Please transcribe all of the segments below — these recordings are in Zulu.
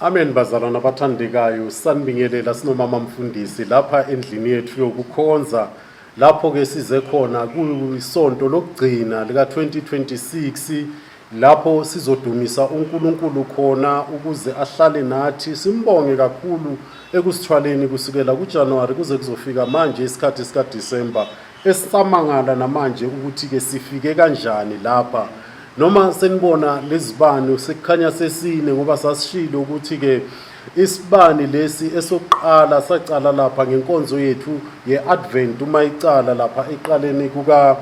Amen bazalwana bathandekayo sanibingelela sinomama mfundisi lapha endlini yethu yokukhonza lapho ke size khona kuyisonto lokugcina lika 2026 lapho sizodumisa uNkulunkulu khona ukuze ahlale nathi simbonge kakhulu ekusithwaleni kusukela kuJanuary kuze kuzofika manje isikhathi sika December Esisamangala namanje ukuthi ke sifike kanjani lapha noma senibona lezibani sekukhanya sesine ngoba sasishilo ukuthi ke isibani lesi esokuqala sacala lapha ngenkonzo yethu ye-advent uma icala lapha eqaleni kuka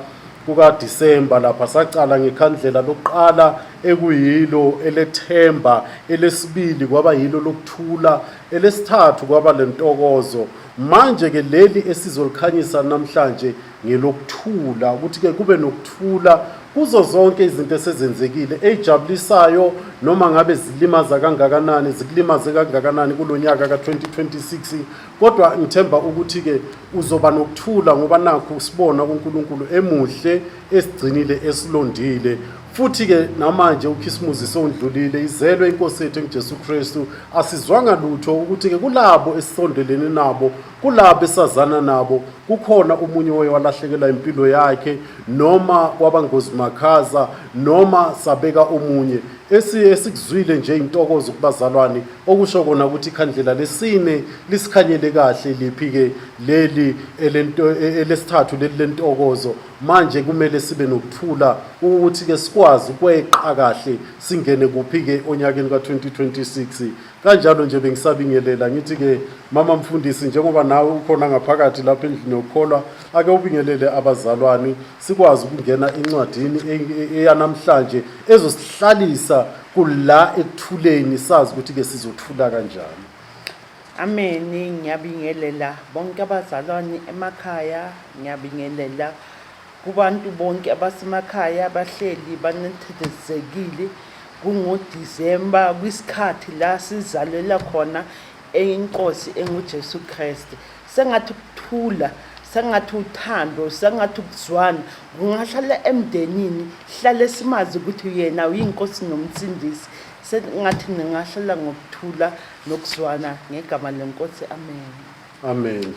kukaDisemba lapha sacala ngekhandlela lokuqala ekuyilo elethemba elesibili kwaba yilo lokuthula elesithathu kwaba lentokozo Manje ke leli esizolikhanyisa namhlanje ngelokuthula ukuthi ke kube nokuthula kuzo zonke izinto esezenzekile ezijabulisayo noma ngabe zilimaza kangakanani zikulimaze kangakanani kulonyaka ka2026 kodwa ngithemba ukuthi ke uzoba nokuthula ngoba nakho usibona kuNkulunkulu emuhle esigcinile esilondile futhi ke namanje ukhisimuzi sondlulile izelwe inkosi yethu enguJesu Kristu asizwanga lutho ukuthi ke kulabo esisondelene nabo kulabo esazana nabo kukhona umunye oye walahlekela impilo yakhe noma kwabangozi makhaza noma sabeka omunye esikuzwile nje intokozo kubazalwane okusho kona ukuthi ikhandlela lesine lisikhanyele kahle liphi ke leli elento e, elesithathu leli lentokozo Manje kumele sibe nokuthula ukuthi ke sikwazi ukweqa kahle singene kuphi ke onyakeni ka-2026 kanjalo nje bengisabingelela ngithi ke mama mfundisi njengoba nawe ukhona ngaphakathi lapha endlini yokukholwa ake ubingelele abazalwane sikwazi ukungena encwadini eyanamhlanje ezosihlalisa kula ekuthuleni sazi ukuthi ke sizothula kanjani Ameni, ngiyabingelela bonke abazalwane emakhaya, ngiyabingelela kubantu bonke abasemakhaya abahleli banethezekile kungoDisemba kwisikhathi la sizalela khona inkosi enguJesu Kristu sengathi ukuthula sengathi uthando sengathi ukuzwana kungahlala emndenini hlale simazi ukuthi uyena uyinkosi nomsindisi sengathi ningahlala ngokuthula nokuzwana ngegama lenkosi amen amen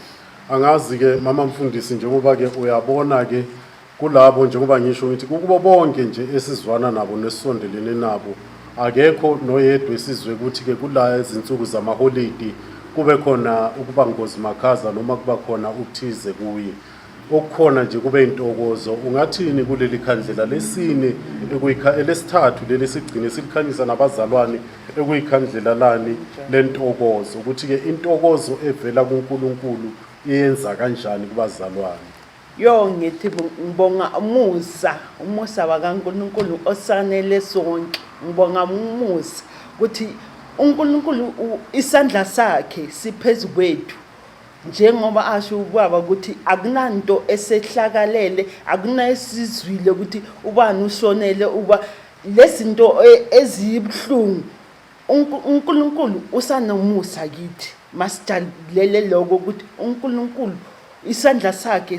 angazi-ke mama mfundisi njengoba-ke uyabona-ke kulabo njengoba ngisho ngithi kukubo bonke nje esizwana nabo nesisondelene nabo akekho noyedwa esizwe ukuthi-ke kula izinsuku zamaholidi kube khona ukuba ngozi makhaza noma kuba khona ukuthize kuye okukhona nje kube intokozo ungathini kuleli khandlela lesine elesithathu leli sigcine silikhanyisa nabazalwane ekuyikhandlela lani lentokozo ukuthi-ke intokozo evela kuNkulunkulu iyenza kanjani kubazalwane yo ngithi ngibonga umusa umusa wakaNkulunkulu osanele sonke ngibonga umusa ukuthi uNkulunkulu isandla sakhe siphezu kwethu njengoba asho ubaba ukuthi akunanto esehlakalele akunayesizwile ukuthi ubani ushonele uba lezinto e, ezibuhlungu uNkulunkulu usanomusa kithi masijabulele lokho ukuthi uNkulunkulu isandla sakhe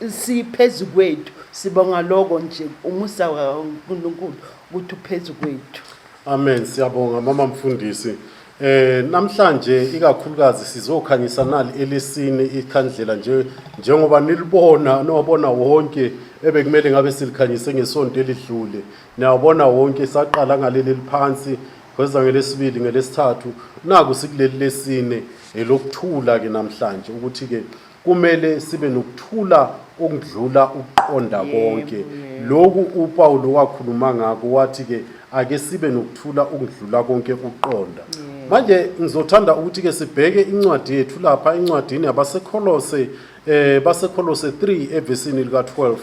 siphezu kwethu sibonga lokho nje umusa kaNkulunkulu ukuthi uphezu kwethu amen siyabonga mama mfundisi Eh namhlanje ikakhulukazi sizokhanyisa nali elesine ikhandlela nje njengoba nilibona nowabona wonke ebekumele ngabe silikhanyise ngesonto elidlule niyabona wonke saqala ngaleli liphansi kweza ngelesibili ngelesithathu naku sikuleli lesine elokuthula ke namhlanje ukuthi ke kumele sibe nokuthula okudlula ukuqonda konke lokhu uPawulu wakhuluma ngako wathi ke ake sibe nokuthula okudlula konke ukuqonda manje ngizothanda ukuthi ke sibheke incwadi yethu lapha incwadini yabaseKholose eh baseKholose 3 evesini lika 12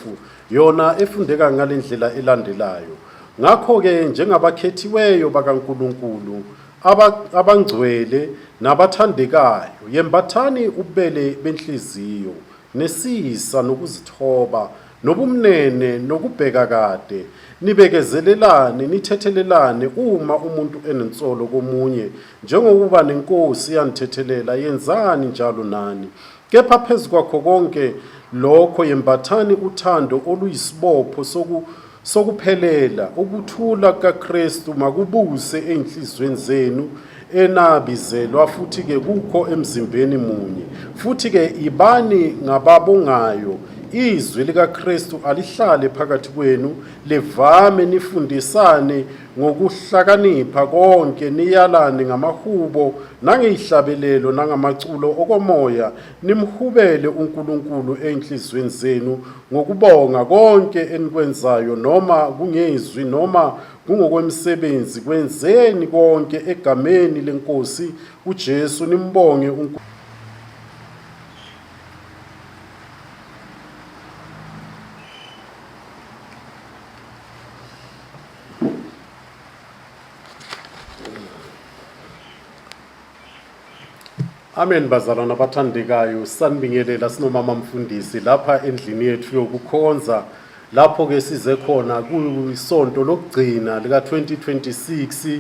yona efundeka ngalendlela elandelayo ngakho ke njengabakhethiweyo bakaNkuluNkulu abangcwele nabathandekayo, yembathani ububele benhliziyo, nesisa nokuzithoba, nobumnene nokubheka kade, nibekezelelane, nithethelelane uma umuntu enensolo komunye, njengokuba nenkosi yanithethelela, yenzani njalo nani, Kepha phezu kwakho konke lokho yembathani uthando oluyisibopho soku sokuphelela ukuthula kukaKristu makubuse ezinhlizweni zenu enabizelwa futhi ke kukho emzimbeni munye futhi ke ibani ngababongayo izwi likaKristu alihlale phakathi kwenu livame nifundisane ngokuhlakanipha konke niyalane ngamahubo nangeyihlabelelo nangamaculo okomoya nimhubele uNkulunkulu ezinhlizweni zenu ngokubonga konke enikwenzayo noma kungezwi noma kungokwemisebenzi kwenzeni konke egameni lenkosi uJesu nimbonge uNkulunkulu Amen bazalwana abathandekayo sanibingelela sinomama mfundisi lapha endlini yethu yokukhonza lapho ke size khona kuyisonto lokugcina lika 2026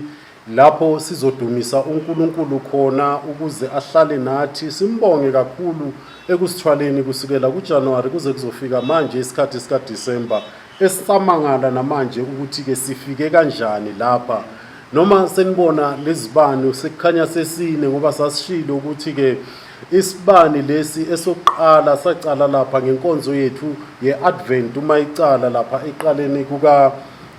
lapho sizodumisa uNkulunkulu khona ukuze ahlale nathi simbonge kakhulu ekusithwaleni kusukela kuJanuary kuze kuzofika manje isikhathi sika December esisamangala namanje ukuthi ke sifike kanjani lapha noma senibona lezibani sekukhanya sesine ngoba sasishilo ukuthi ke isibani lesi esokuqala sacala lapha ngenkonzo yethu yeAdvent uma icala lapha eqaleni kuka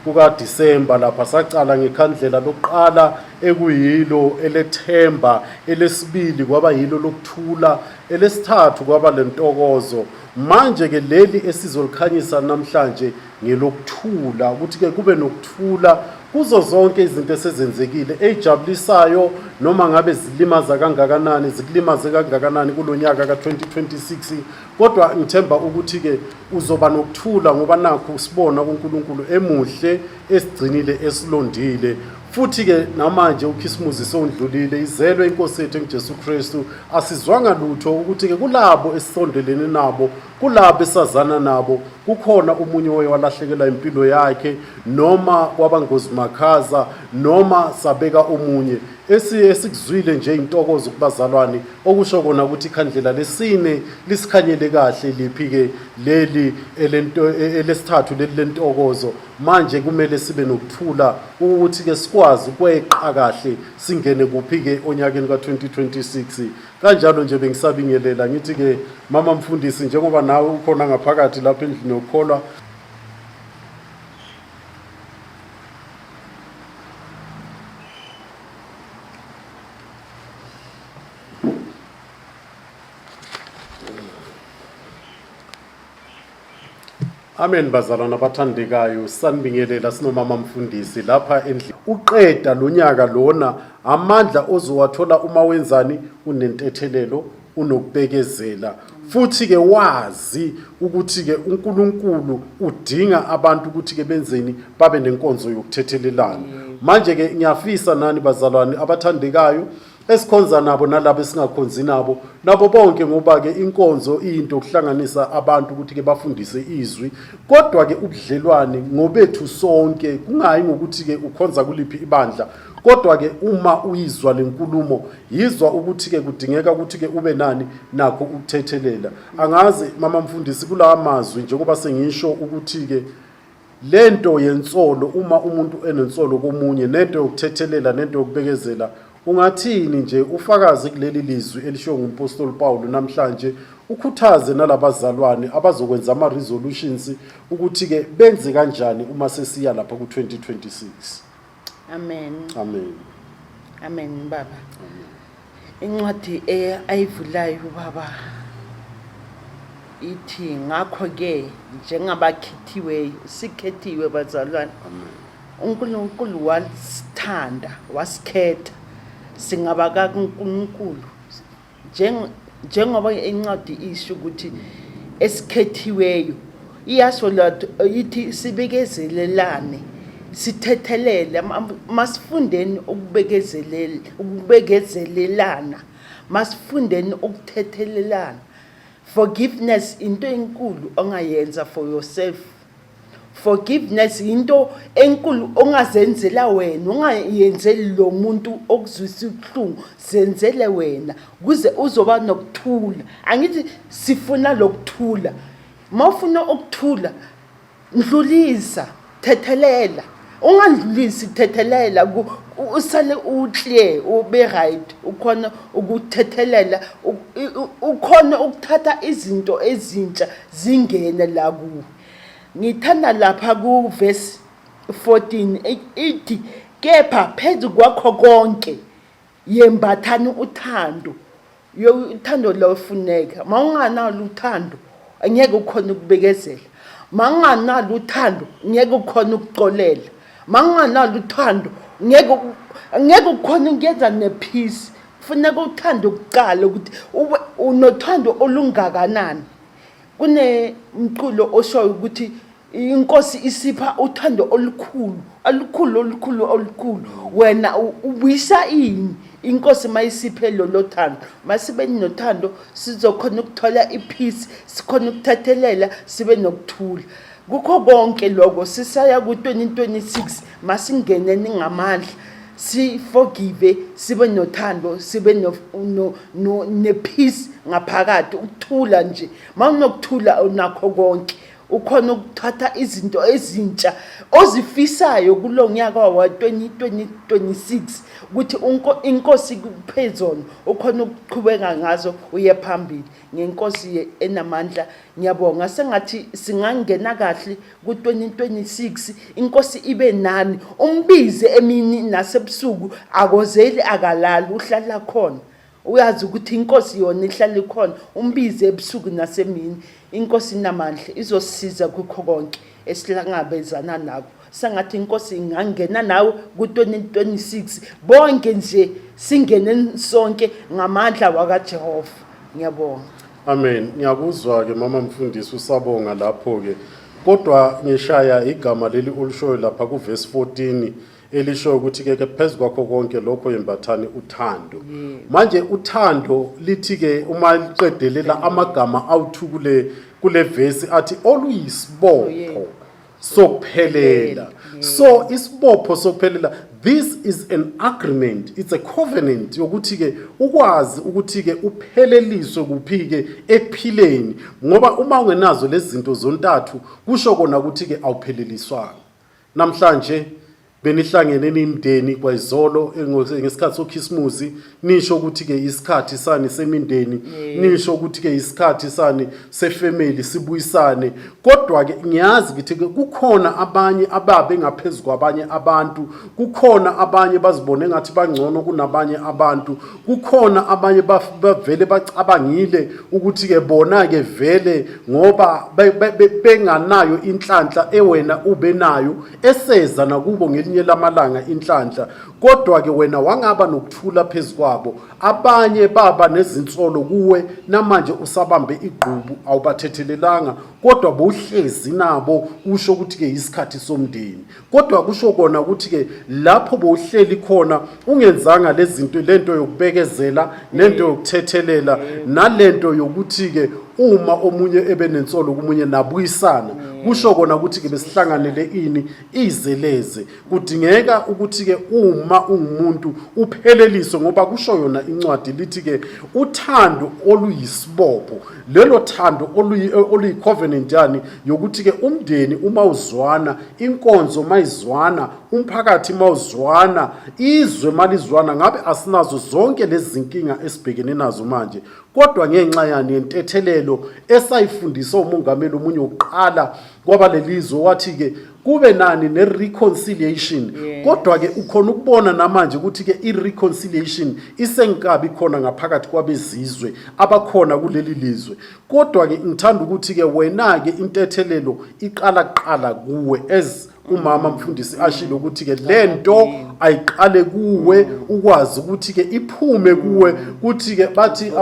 kukaDisemba lapha saqala ngekhandlela lokuqala ekuyilo elethemba, elesibili kwaba yilo lokuthula, elesithathu kwaba lentokozo. Manje ke leli esizolikhanyisa namhlanje ngelokuthula ukuthi ke kube nokuthula kuzo zonke izinto esezenzekile ezijabulisayo noma ngabe zilimaza kangakanani zikulimaze kangakanani kulonyaka ka2026 kodwa ngithemba ukuthi-ke uzoba nokuthula ngoba nakho usibona kuNkulunkulu emuhle esigcinile esilondile futhi-ke namanje ukhisimuzi sewundlulile izelwe inkosi yethu engujesu kristu asizwanga lutho ukuthi-ke kulabo esisondelene nabo kulabo esazana nabo kukhona omunye oye walahlekelwa impilo yakhe noma kwabangozimakhaza noma sabeka omunye Esiye sikuzwile nje intokozo kubazalwane okusho kona ukuthi ikhandlela lesine lisikhanyele kahle liphi ke leli elento e, elesithathu leli lentokozo manje kumele sibe nokuthula ukuthi ke sikwazi kweqa kahle singene kuphi ke onyakeni ka2026 kanjalo nje bengisabingelela ngithi ke mama mfundisi njengoba nawe ukhona ngaphakathi lapha endlini yokukholwa Amen bazalwana abathandekayo sanibingelela sinomama mfundisi lapha endlini uqeda lonyaka lona amandla ozowathola uma wenzani unentethelelo unokubekezela futhi-ke wazi ukuthi-ke uNkulunkulu udinga abantu ukuthi-ke benzeni babe nenkonzo yokuthethelelana manje-ke ngiyafisa nani bazalwane abathandekayo esikhonza nabo nalabo esingakhonzi nabo nabo bonke ngoba-ke inkonzo iyinto yokuhlanganisa abantu ukuthi-ke bafundise izwi kodwa-ke ubudlelwane ngobethu sonke kungayi ngokuthi-ke ukhonza kuliphi ibandla Kodwa-ke uma uyizwa le nkulumo yizwa ukuthi-ke kudingeka ukuthi-ke ube nani nakho ukuthethelela. Angazi mama mfundisi kulawa mazwi njengoba sengisho ukuthi-ke le nto yensolo uma umuntu enensolo komunye nento yokuthethelela nento yokubekezela ungathini nje ufakaze kuleli lizwi elishiwo ngumpostoli Pawulu namhlanje ukhuthaze nalabazalwane abazokwenza ama resolutions ukuthi ke benze kanjani uma sesiya lapha ku 2026 Amen. Amen. Amen baba. Amen. Incwadi eh, ayivulayo ubaba ithi ngakho ke njengabakhethiweyo sikhethiwe bazalwane. Amen. uNkulunkulu wasithanda wasikhetha singaba kaNkulunkulu njengoba incwadi isho ukuthi esikhethiweyo iyasho lotho ithi sibekezelelane sithethelele masifundeni ukubekezelela ukubekezelelana masifundeni ukuthethelelana forgiveness into enkulu ongayenza for yourself Forgiveness yinto enkulu ongazenzela wena, ongayenzeli lo muntu okuzwisa ubuhlungu, zenzele wena kuze uzoba nokuthula. Angithi sifuna lokuthula. Mawufuna ukuthula, ndlulisa, thethelela. Ungandlulisi thethelela usale uclear ube right ukhona ukuthethelela ukhona ukuthatha izinto ezintsha zingene la kuwe Ngithanda lapha kuvesi 14 ithi kepha phezu kwakho konke yembathani uthando. Yo uthando lofuneka. Mawunganalo uthando angeke ukhona ukubekezela. Mawunganalo uthando ngeke ukhona ukuxolela. Mawunganalo uthando ngeke ngeke ukhona ukuyenza nephisi. Kufuneka uthando kuqala ukuthi unothando olungakanani. Kunemculo oshoyo ukuthi inkosi isipha uthando olukhulu olukhulu olukhulu olukhulu wena ubuyisa ini inkosi mayisiphe lolo thando masibe nothando sizokhona ukuthola ipeace sikhona ukuthathelela sibe nokuthula Kukho konke lokho sisaya ku-2026 masingene ningamandla siforgive sibe nothando sibe no, no, no, nepeace ngaphakathi ukuthula nje mawunokuthula unakho konke ukhona ukuthatha izinto ezintsha ozifisayo kulo nyaka wa-2026 ukuthi inkosi kuphezona ukhona ukuqhubeka ngazo uye phambili ngenkosi ye enamandla ngiyabonga sengathi singangena kahle ku 2026 inkosi ibe nani umbize emini nasebusuku akozeli akalali uhlala khona uyazi ukuthi inkosi yona ihlala ikhona umbize ebusuku nasemini inkosi inamandla izosisiza kukho konke esilangabezana nako sengathi inkosi ingangena nawe ku-2026 bonke nje singene sonke ngamandla wakajehova ngiyabonga amen ngiyakuzwa-ke mama mfundisi usabonga lapho-ke kodwa ngishaya igama leli olushoyo lapha kuvesi 14 elisho ukuthi-ke ke phezu kwakho konke lokho yembathani uthando manje uthando lithi-ke uma liqedelela amagama awuthukule kule vesi athi oluyisibopho sokuphelela so isibopho sokuphelela this is an agreement it's a covenant yokuthi ke ukwazi ukuthi ke upheleliswe kuphi ke ekuphileni ngoba uma ungenazo lezi zinto zontathu kusho kona ukuthi ke awupheleliswanga namhlanje Benihlangene nimndeni kwayizolo engo- ngesikhathi sokhisimusi nisho ukuthi-ke isikhathi sani semindeni nisho ukuthi-ke isikhathi sani sefemeli sibuyisane kodwa-ke ngiyazi ukuthi-ke kukhona abanye ababe ngaphezu kwabanye abantu kukhona abanye bazibone ngathi bangcono kunabanye abantu kukhona abanye baf- bavele bacabangile ukuthi-ke bona-ke vele ngoba be- be- be- benganayo inhlanhla ewena ube nayo eseza nakubo ngelinye lamalanga inhlanhla kodwa-ke wena wangaba nokuthula phezu kwabo abanye baba nezinsolo kuwe namanje usabambe igqubu awubathethelelanga kodwa bowuhlezi nabo kusho ukuthi-ke yisikhathi somndeni kodwa kusho kona ukuthi-ke lapho bowuhleli khona ungenzanga lezinto lento yokubekezela nento yokuthethelela nalento yokuthi ke uma omunye ebenensolo kumunye nabuyisana kusho kona ukuthi ke besihlanganele ini izeleze kudingeka ukuthi ke uma ungumuntu upheleliswe ngoba kusho yona incwadi lithi ke uthando oluyisibopho lelo thando oluyi covenant yani yokuthi ke umndeni uma uzwana inkonzo mayizwana umphakathi mawuzwana izwe malizwana ngabe asinazo zonke lezi zinkinga esibhekene nazo manje kodwa ngenxa yani yentethelelo esayifundisa umongameli omunye wokuqala kwabalelizwe wathi-ke kube nani ne-reconciliation yes. kodwa-ke ukhona ukubona namanje ukuthi-ke i-reconciliation isengikabi khona ngaphakathi kwabezizwe abakhona kuleli lizwe kodwa-ke ngithanda ukuthi-ke wena-ke intethelelo iqala kuqala kuwe as umama mfundisi ashilo ukuthi ke lento ayiqale kuwe ukwazi ukuthi ke iphume kuwe ukuthi ke bathi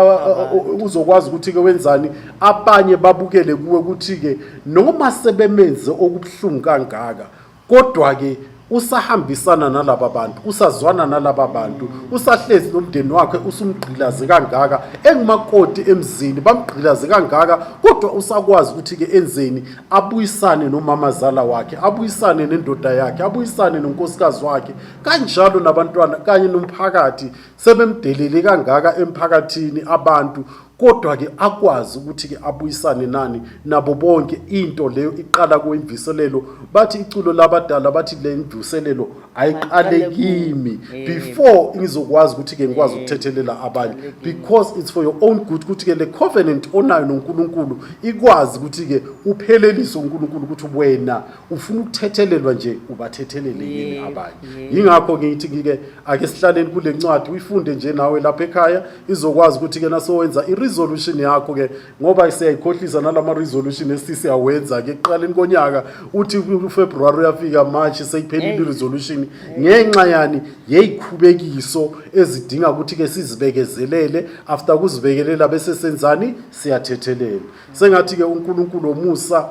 uzokwazi ukuthi ke wenzani abanye babukele kuwe ukuthi ke noma sebemenze okubuhlungu kangaka kodwa ke usahambisana nalaba bantu usazwana nalaba bantu usahlezi nomndeni wakhe usumgqilaze kangaka engumakoti emzini bamgqilaze kangaka kodwa usakwazi ukuthi-ke enzeni abuyisane nomamazala wakhe abuyisane nendoda yakhe abuyisane nonkosikazi wakhe kanjalo nabantwana kanye nomphakathi sebemdelele kangaka emphakathini abantu kodwa-ke akwazi ukuthi-ke abuyisane nani nabo bonke into leyo iqala kwimviselelo bathi iculo labadala bathi le mvuselelo ayiqale kimi before ngizokwazi ukuthi ke ngikwazi ukuthethelela abanye because it's for your own good ukuthi ke le covenant onayo noNkulunkulu ikwazi ukuthi ke uphelelise uNkulunkulu ukuthi wena ufuna ukuthethelelwa nje ubathethelele yini abanye yingakho ngithi ngike ake sihlaleni kule ncwadi uyifunde nje nawe lapha ekhaya izokwazi ukuthi ke nasowenza iresolution yakho ke ngoba siyayikhohlisa nalama resolution esisi awenza ke kuqaleni konyaka uthi uFebruary uyafika March sekuphelile i resolution ngenxa yani yeyikhubekiso ezidinga ukuthi ke sizibekezelele after kuzibekelela bese senzani siyathethelela sengathi ke uNkulunkulu omusa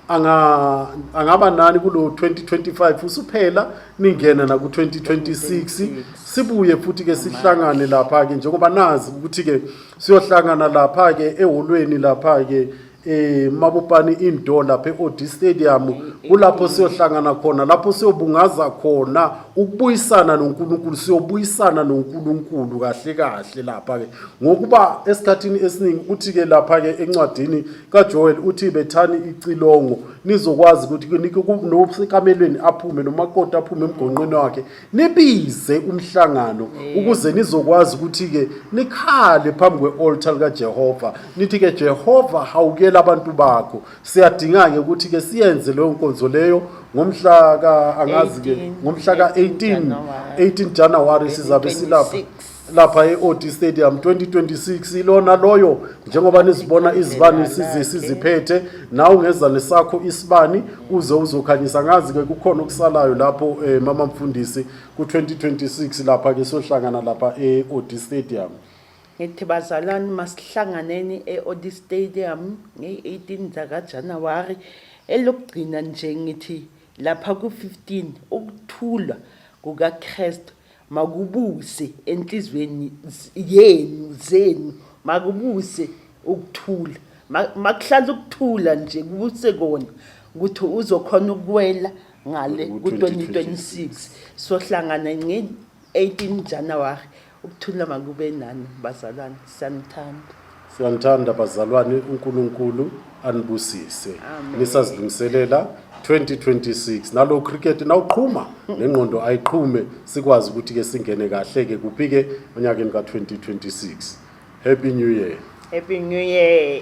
anga angaba nani kulo 2025 usuphela ningena na ku 2026 sibuye futhi ke sihlangane lapha ke njengoba nazi ukuthi ke siyohlangana lapha ke eholweni lapha ke eh mabupani indoor lapha eOD Stadium kulapho siyohlangana khona lapho siyobungaza khona ukubuyisana noNkulunkulu siyobuyisana noNkulunkulu kahle kahle lapha ke ngokuba esikhatini esiningi uthi ke lapha ke encwadini kaJoel uthi bethani icilongo nizokwazi ukuthi kunike nosekamelweni aphume nomakoti aphume emgonqweni wakhe nibize umhlangano ukuze nizokwazi ukuthi-ke nikhale phambi kwe-olta likajehova nithi-ke jehova hawukela abantu bakho siyadinga-ke ukuthi-ke siyenze leyo nkonzo leyo ngomhla ka angazi-ke ngomhla ka-18 18 januwari sizabe silapha lapha e-od stadium 2026 ilona loyo njengoba nizibona izibani size siziphethe nawe ungeza nesakho isibani uze uzokhanyisa ngazi-ke kukhona okusalayo lapho um mama mfundisi ku-2026 lapha-ke sohlangana lapha e-od stadium ngithi bazalwane masihlanganeni e-od stadium ngey-18 zakajanuwari elokugcina nje ngithi lapha ku-15 ukuthulwa kukakrestu Makubuse enhlizweni yenu zenu makubuse ukuthula makuhlala ukuthula nje kubuse kona ukuthi uzokhona ukuwela ngale ku-2026 sohlangana ngeni 18 January ukuthula makube nani bazalwane siyanithanda Siyanithanda bazalwane uNkulunkulu anibusise. Nisazilungiselela 2026 nalo cricket nawuqhuma nengqondo ayiqhume sikwazi ukuthi ke singene kahle ke kuphi ke onyakeni ka-2026 happy new year Happy New Year.